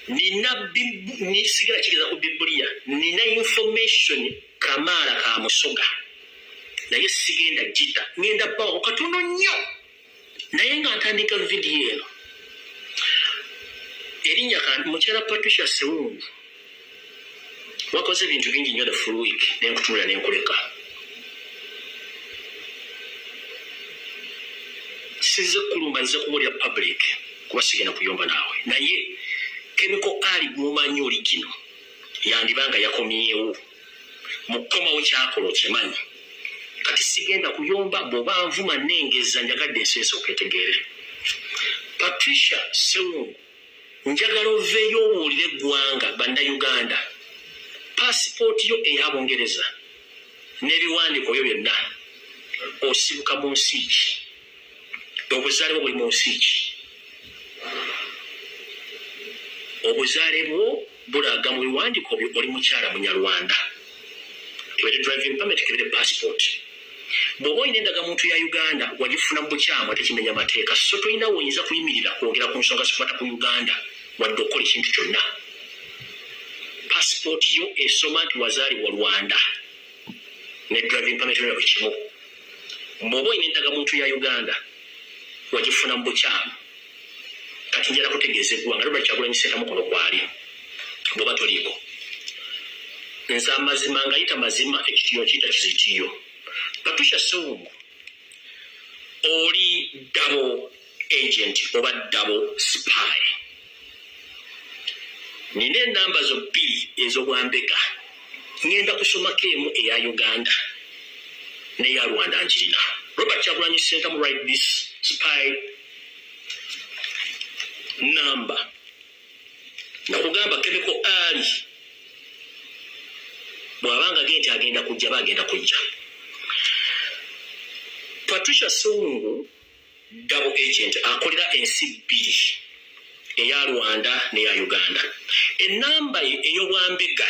nina sigala kigeza ku bibulia nina information kamaala ka musoga naye sigenda gita ngenda bawo katono nnyo naye nga ntandika vidiyo eno erinnya mukyala patricia sewungu wakoze ebintu bingi nnyo the full week nenkutunula nenkuleka size kulumba nze kumulira public kuba sigenda kuyomba naawe naye kemiko ali gwomanyi oli kino yandiba nga yakomyewo mukukomawo kyakola okimanyi kati sigenda kuyomba bwoba nvuma nengeza njagadde ensi esooka etegeere patricia sewungu njagala oveeyo obuulire eggwanga bannayuganda paasipooti yo eya bungereza n'ebiwandiiko byo byonna osibuka mu nsi ki obuzaale bwo buli mu nsi ki obuzaale bwo bulaga mu biwandiiko byo oli mukyala munyarwanda kebere driving permit kebere passport bwoba olina endagamuntu ya uganda wagifuna mu bukyamu ate kimenya mateeka so tolina woyinza kuyimirira kwogera ku nsonga zikwata ku uganda wadde okukola ekintu kyonna passport yo esoma nti wazaalibwa rwanda ne driving permit yona buli kimu bwoba olina endagamuntu ya uganda wagifuna mu bukyamu kati njala kutegeeza eggwanga Robert Kyagulanyi Ssentamu kuno kwali bw'oba toliiko nze amazima ngayita mazima ekitiyo nkiyita kizitiyo Patricia Ssewungu oli dabo agent oba dabo spy nina enamba zo bbiri ez'obwambega ngenda kusomako emu eya uganda neya rwanda njirina robert kyagulanyi sentamu right this spy namba nakugamba kemiko ali bwabanga ge nti agenda kujja bagenda kujja patricia sungu double agent akolera ensi bbiri eya rwanda neya uganda enamba eyobwambega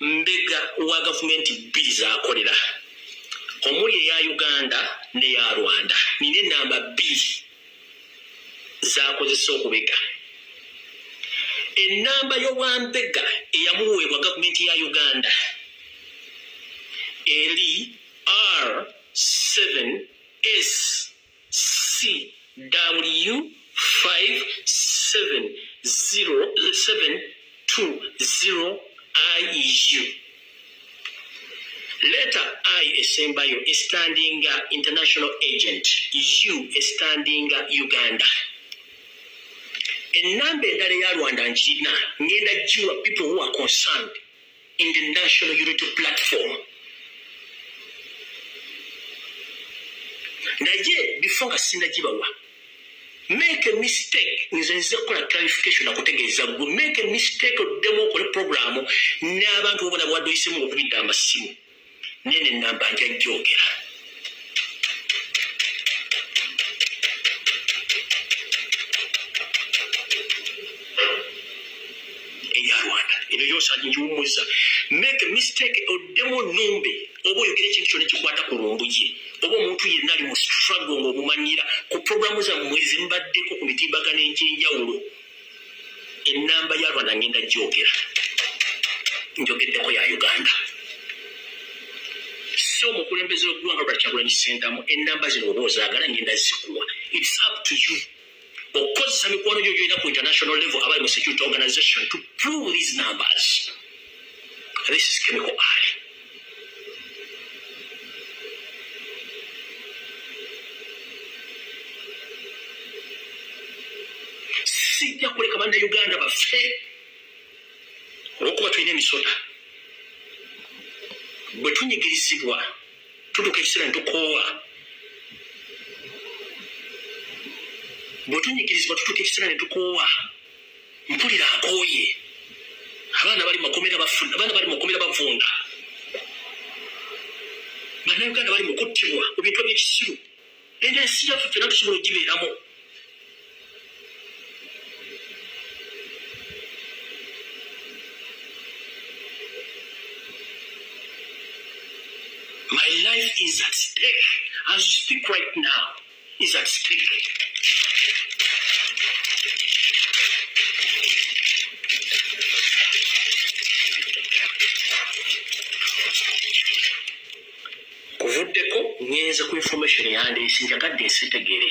mbega wa gavumenti bbiri zakolera omuli eya uganda neya rwanda nina enamba bbiri zakozesa okubega enamba yobwambega eyamuweebwa gavumenti ya uganda eri r7 s cw5772iu leta i esembayo estandinga international agent u estandinga uganda enamba endala eya rwanda nkirina ngenda jiwa people who are concerned in the National Unity Platform. naye bifo nga sinagibawa make a mistake nze nze kukola clarification nakutegeeza gwe make a mistake oddemu okole programu n'abantu obona bwaduyisemu okubidda amasimu nene namba nja jogera eyosanyiwumuza make mistake oddemu numbe oba oyogera ekintu kyona ekikwata ku lumbuye oba omuntu yenna ali mu struggle ngaomumanyira ku programu zammwe zimbaddeko ku mitimbagano egyenjawulo enamba ya rwanda ngenda gyogera njogeddeko ya uganda si omukulembeze wegwanga lwakyagulanyi sentamu enamba zino oba ozagala ngenda zikuwa its up to you okukozesa mikwano gyo gyolina ku international level abali mu security organization to prove these numbers This is chemical Ali. Sijja kuleka banna Uganda baffe olwokuba tulina emisota bwe tunyigirizibwa tutuuka ekiseera ne tukoowa bwe tunyigirizibwa tutuuka ekiseera ne tukoowa mpulira akooye abaana bali makomera bafuna abaana bali makomera bavunda bannayuganda bali mu kuttibwa mu bintu ebyekisiru eno ensi yaffe fena tusobola ogibeeramu my life is at stake as you speak right now is at stake. kuvuddeko ngenze ku information yandeese njagadde nsitegere